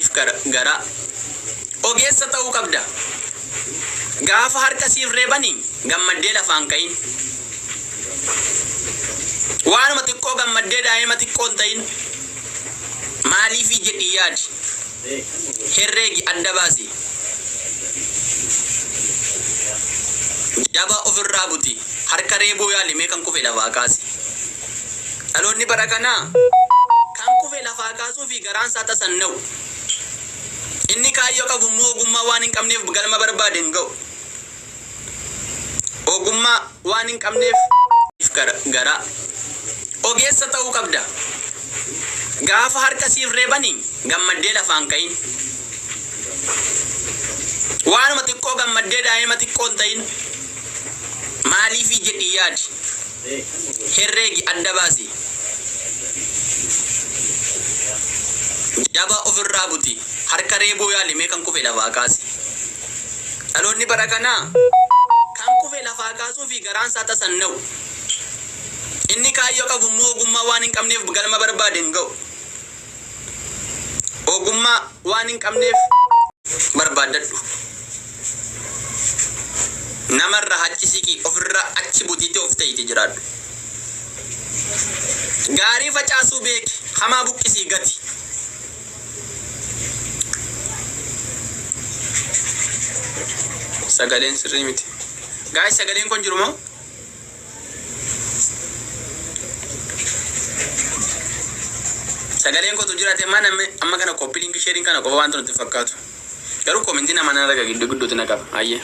siif gargaara. Ogeessa ta'uu qabda. Gaafa harka siif reebani gammaddee lafaa hin ka'in. Waanuma xiqqoo gammaddee daa'ima xiqqoo hin ta'in. Maaliifii jedhii yaadi. Herreegi adda baasi. Jaba ofirraa buti. Harka reebuu yaali mee kan kufe lafaa kaasi. Dhaloonni bara kanaa kan kufe lafaa kaasuu fi garaan isaa tasanna'u. Inni kaayyoo qabu immoo ogummaa waan hin qabneef galma barbaade hin ga'u. Ogummaa waan hin qabneef gara- garaa. Ogeessa ta'uu qabda. Gaafa harka siif reebani gammaddee lafaan ka'in. Waanuma xiqqoo gammaddee daa'ima xiqqoo hin ta'in. Maaliifii jedhii yaadi. herreegi adda baasi. Jabaa of irraa buti. Harka reebuu yaali mee kan kufe lafaa kaasi. Dhaloonni bara kanaa kan kufe lafaa kaasuu fi garaan isaa tasanna'u. Inni kaayyoo qabu immoo ogummaa waan hin qabneef galma barbaade hin ga'u. Ogummaa waan hin qabneef barbaaddadhu. Nama irraa hacci siqii ofirraa achi butiitee of ta'ite jiraadhu. Gaarii facaasuu beeki hamaa buqqisii gati. Sagaleen sirrii miti. Gaa'is sagaleen kun jiru moo? Sagaleen kotu jirate mana me amma kana copy link sharing kana qofa wanti nutti hin fakkaatu. Garuu comment nama nan arga giddu gidduutti na qaba. Ayyee.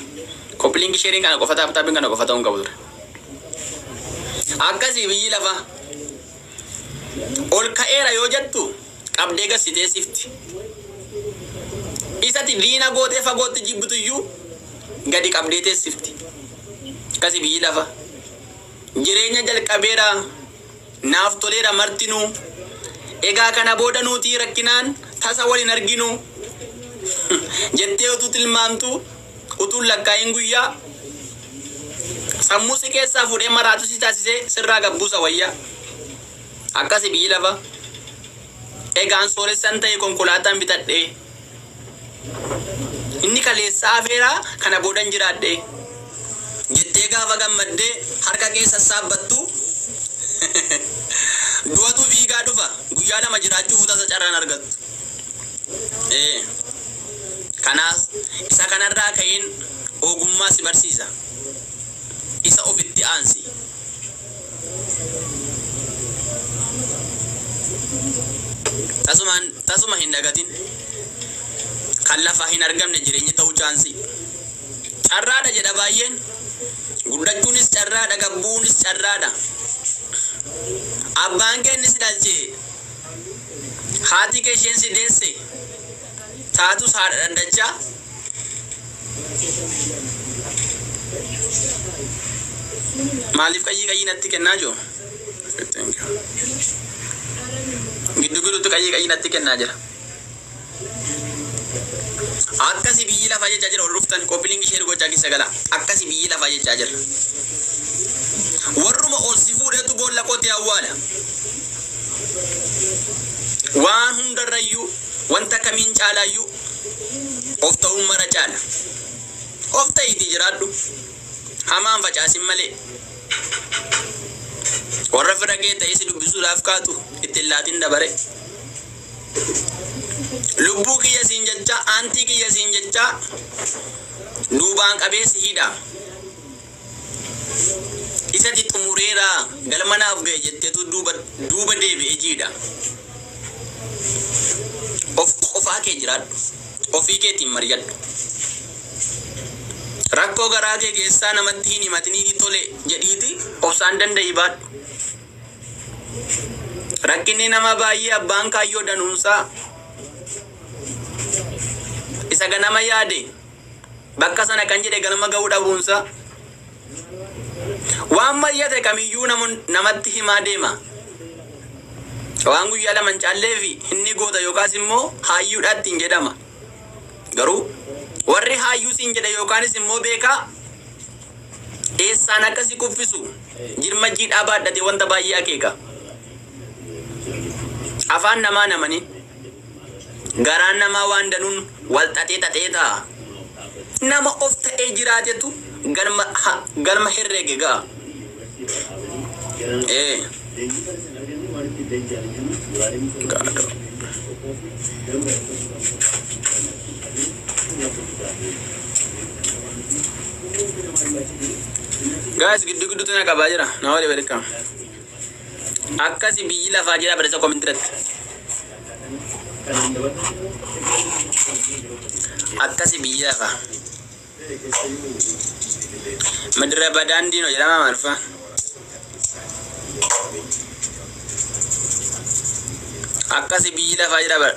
Copy link sharing kana qofa taap taapin kana qofa ta'uu hin qabu ture. Akkasii biyyi lafa ol ka'eera yoo jettu qabdee gassitee sifti. Isati diina gootee fagootti jibbitu iyyuu gadi qabdee teessifti. Akkasi biyyi lafa. Jireenya jalqabeera. Naaf toleera martinuu. Egaa kana booda nuutii rakkinaan tasa wal hin arginu. Jettee utuu tilmaamtuu, utuun lakkaa'iin guyyaa, sammuu si keessaa fuudhee maraatuu si taasisee sirraa gad buusa wayya. Akkasi biyyi lafa. Egaan sooressan ta'e konkolaataan bitadhee. Inni kaleessa hafeera, kana boodan jiraadhe jettee gaafa gammaddee harka kee sassaabbattu du'atu fiigaa dhufa. Guyyaa lama jiraachuuf tasa carraan argattu. Ee, kanaaf isa kanarraa ka'een ogummaa si barsiisa. Isa ofitti aansi. Tasumaan tasuma hin dagatin. Kan lafaa hin argamne jireenyi ta'uu chaansii. Carraadha jedha baay'een. Guddachuunis carraadha gabbuunis carraadha. Abbaan kee inni si dhalche. Haati kee isheen si deesse. taatus haadha dhandachaa. Maaliif qayyii qayyii natti kennaa jiru? Giddu gidduutti qayyii qayyii natti kennaa jira. Akkasi biyyi lafaa jechaa jira ol dhuftan qophiin ishee gochaa keessa gala. Akkasi biyyi lafaa jechaa jira. Warruma ol si fuudhetu boolla qotee awwaala. Waan hundarrayyuu Wanta kamiin caalaa iyyuu of ta'uun mara caala. Of ta'iitii jiraadhu, hamaa hin facaasin malee. Warra fira kee ta'ee si dubbisuudhaaf kaatu itti hin laatin dabaree. Lubbuu kiyya siin jechaa, aantii kiyya siin jechaa duubaan qabee si hidha. Isati xumureera galma naaf gahe jettetu duuba duuba deebi'e jiidha. Of qofaa kee jiraadhu. Ofii keetiin mari'adhu. Rakkoo garaa kee keessaa namatti hin himatiniiti tole jedhiiti obsaan danda'ii baadhu. Rakkinni namaa baay'ee abbaan kaayyoo danuunsaa isa ganama yaade Bakka sana kan jedhe galma ga'uu dhabuunsa waan mari'ate kamiyyuu namun- namatti himaa deema. Waan guyyaa lama hin caalleef inni goota yookaas immoo haayyuudha ittiin jedhama. Garuu warri haayyuu siin jedhe yookaanis immoo beekaa eessaan akka si kuffisu jirma jiidhaa baadhatee wanta baay'ee akeeka. Afaan namaa namanii. Garaan namaa waan danuun wal xaxee xaxee ta'a. Nama of ta'ee jiraatetu galma, ha, galma herreege ga'a. Ee. Gaadoo. Guys, giddu gidduutti na qabaa jira. Na wali welcome. Akkasi biyyi lafaa jedhaa barreessaa comment irratti. Akkasi biyyi lafaa. Madira badaan diinoo jedhama maalfaa. Akkasi biyyi lafaa jedhaa bara.